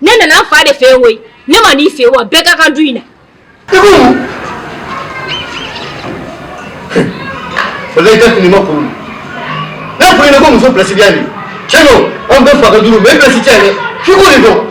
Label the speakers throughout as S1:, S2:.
S1: ne nana n fa de fɛ yen ne ma n'i fɛ wa bɛɛ ka kan du in na
S2: walayi tɛ fini ma kuru n'a fɔ n ɲɛna ko muso pilasi diya nin cɛ don an bɛɛ fa ka du don bɛɛ pilasi cɛ dɛ f'i k'o de dɔn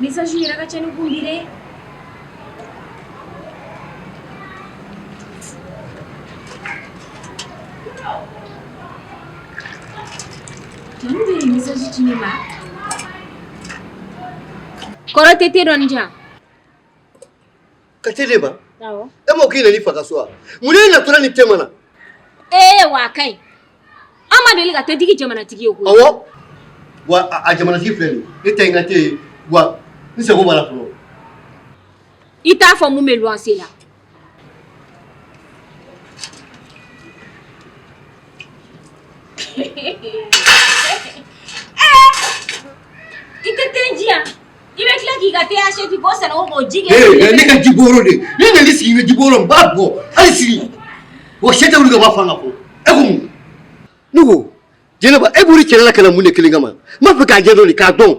S1: Message yɛrɛ ka ca ne kun bi dɛ Kɔrɔ tɛ tɛ dɔn jan ka
S2: tɛ ba e mɔgɔ kelen
S1: fa ka so
S2: wa mun ye na tora ni te ma na ee
S1: wa ka ɲi an ma deli ka te jigi jamanatigi ye
S2: ko wa a jamanatigi filɛ nin i tɛ n ka te wa n sago b'a la fɔlɔ
S1: i t'a fɔ mun bɛ wanse la ne ka
S2: jiboro de ne nali sigi bɛ jiboro n b'a bɔ hali sigi wa sɛ tɛ wuli ka bɔ a fan ka fɔ e ko mun ne ko jɛnɛba e bɔra i cɛla la ka na mun de kelen kama n b'a fɛ k'a jɛ dɔɔnin k'a dɔn.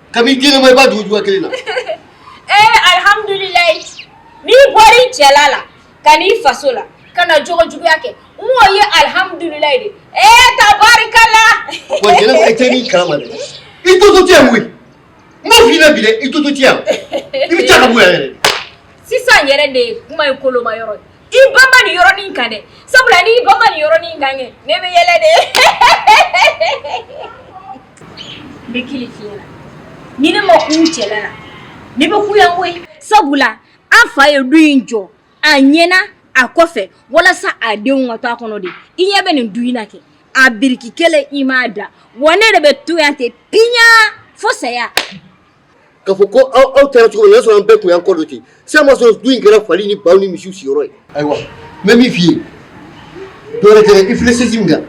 S2: Kabi jinɛ ma i ba dugu jɔ kelen na ee
S1: alihamdulila n'i bɔra i cɛla la ka n'i faso la ka na jogojuguya kɛ n'o ye alihamdulila dɛ ee tabarikala
S2: i totɔ tɛ yan koyi n b'a f'i ɲɛna bi dɛ i totɔ tɛ yan i bɛ taa ka bɔ yan yɛrɛ sisan
S1: yɛrɛ de ye kuma in koloma yɔrɔ i banban nin yɔrɔnin kan dɛ sabula n'i banban nin yɔrɔnin kan kɛ ne bɛ yɛlɛ de n bɛ kelen f'i ɲɛna ni ne ma kun cɛla la ne bɛ kun yan koyi sabula an fa ye du in jɔ a ɲɛna a kɔfɛ walasa a denw ka to a kɔnɔ de i ɲɛ bɛ nin du in na kɛ a biriki kelen i m'a da wa ne de bɛ to yan ten piɲaa fo saya
S2: Ka fɔ ko aw aw taara cogo min na o y'a sɔrɔ an bɛɛ tun y'an kɔ don ten, sisan min y'a sɔrɔ du in kɛra fali ni baw ni misiw si yɔrɔ ye, ayiwa n bɛ min f'i ye dɔwɛrɛ tɛ dɛ, i filɛ chaise min kan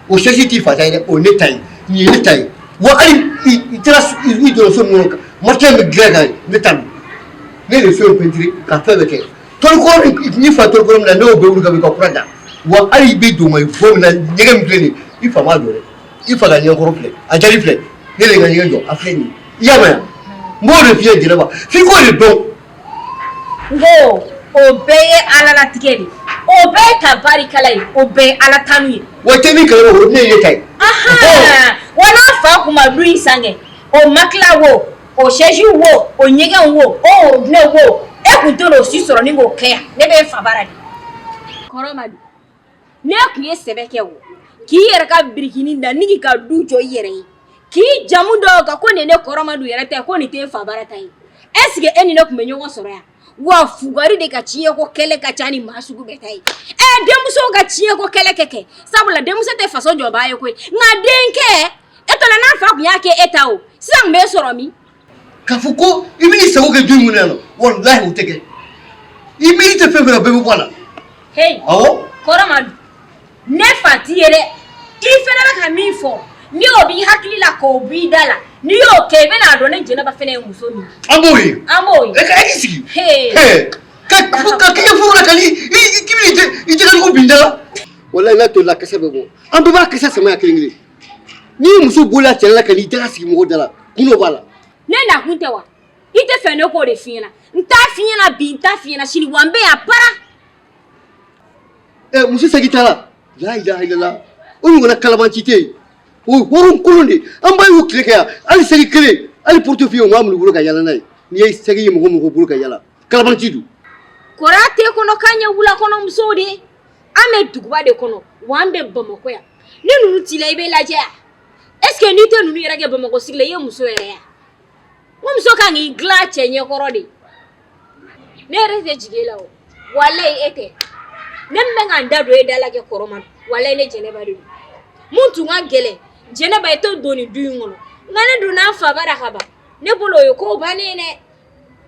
S2: o chaise t'i fa ta ye dɛ, o ye ne ta ye, nin ye ne ta ye wa hali i taara i jɔ so min kɔnɔ matelas min bɛ dilan kan ne ta don, ne de ye so in peinturer ka fɛn bɛɛ kɛ, tɔli kɔrɔ min n'i fa tɔli kɔrɔ min na ne y'o bɛɛ wuli ka bɔ yen ka kura da wa hali i bɛ don i bɔ min na ɲɛgɛn min filɛ nin ye i fa m'a jɔ dɛ i fa ka ɲɛkɔrɔ filɛ a jali filɛ ne de ka ɲɛgɛn jɔ a filɛ nin ye i y'a mɛn n b'o de f'i ye jɛnɛba f'i k'o de dɔn n ko
S1: o bɛɛ ye ala latigɛ de o bɛɛ ye tabarikala ye o bɛɛ ye ala tanu ye wa tɛ min kɛlɛ
S2: o ne ye ta
S1: ye wa n'an fa kun ma du in sangɛ o makila wo o sɛji wo o ɲɛgɛn wo o ne wo e kun t'olu si sɔrɔ ni k'o kɛ yan ne bɛ fa bara de kɔrɔ ma N'e kun ye sɛbɛ kɛ o k'i yɛrɛ ka birikinin da ni k'i ka du jɔ i yɛrɛ ye k'i jamu d'o kan ko nin ne kɔrɔ Madu yɛrɛ ta ye ko nin tɛ fa bara ta ye est ce que e ni ne kun bɛ ɲɔgɔn sɔrɔ yan wa fugari de ka ciyɛn ko kɛlɛ ka ca ni maa sugu bɛɛ ta ye ɛ denmuso ka ciyɛn ko kɛlɛ kɛ kɛ sabula denmuso tɛ faso jɔba ye koyi nka denkɛ e tola n'an fa kun y'a kɛ e ta o sisan bɛ n sɔrɔ min k'a fɔ
S2: ko i bɛn'i sago kɛ du in kɔnɔ yan nɔ walahi o tɛ kɛ i miiri tɛ fɛn o fɛn na bɛɛ bɛ bɔ a la heyi awɔ
S1: kɔrɔ
S2: Madu
S1: ne fa t'i ye dɛ i fana bɛ ka min fɔ nin ye o b'i hakili la k'o b'i da la n'i y'o kɛ i bɛna a dɔn ne jɛnɛba fana ye muso min ye an b'o ye an b'o ye e ka e k'i
S2: sigi
S1: Hey. Hey, ka ka
S2: kɛɲɛ furu la ka ni i i k'i bɛ i jɛ i jɛgɛjugu bin da la walayi n'a tolila kasa bɛ bɔ an bɛɛ b'a kasa sama yan kelen kelen n'i ye muso bɔla a cɛla ka n'i daga sigi mɔgɔ da la kun dɔ b'a la ne nakun
S1: tɛ wa i t'a fɛ ne k'o de f'i ɲɛna n t'a f'i ɲɛna bi n t'a f'i ɲɛna sini wa n bɛ yan para
S2: ɛ muso saki t'a la la ilaha illallah o ɲɔgɔnna kalabanci tɛ yen o ye hɔrɔn kolon de ye an baw y'u tile kɛ yan hali saki kelen hali portefeuille u m'a minɛ u bolo ka yala n'a ye n'i ye saki ye mɔgɔ o mɔgɔ bolo ka yala kalabanci don kɔrɔ tɛ
S1: kɔni k'an ye wulakɔnɔmusow de ye an bɛ duguba de kɔnɔ wa an bɛ bamakɔ yan ni ninnu t'i la i bɛ lajɛ wa est ce que n'i tɛ ninnu yɛrɛ kɛ Bamakɔ sigi la i ye muso yɛrɛ ye wa n ko muso ka kan k'i dilan a cɛ ɲɛ kɔrɔ de ne yɛrɛ tɛ jigin e la o walayi e tɛ ne min bɛ ka n da don e da la kɛ kɔrɔ ma walayi ne Jɛnɛba de don mun tun ka gɛlɛn Jɛnɛba i tɛ don nin du in kɔnɔ nka ne donna n fa bara ka ban ne bolo o ye ko bannen ye dɛ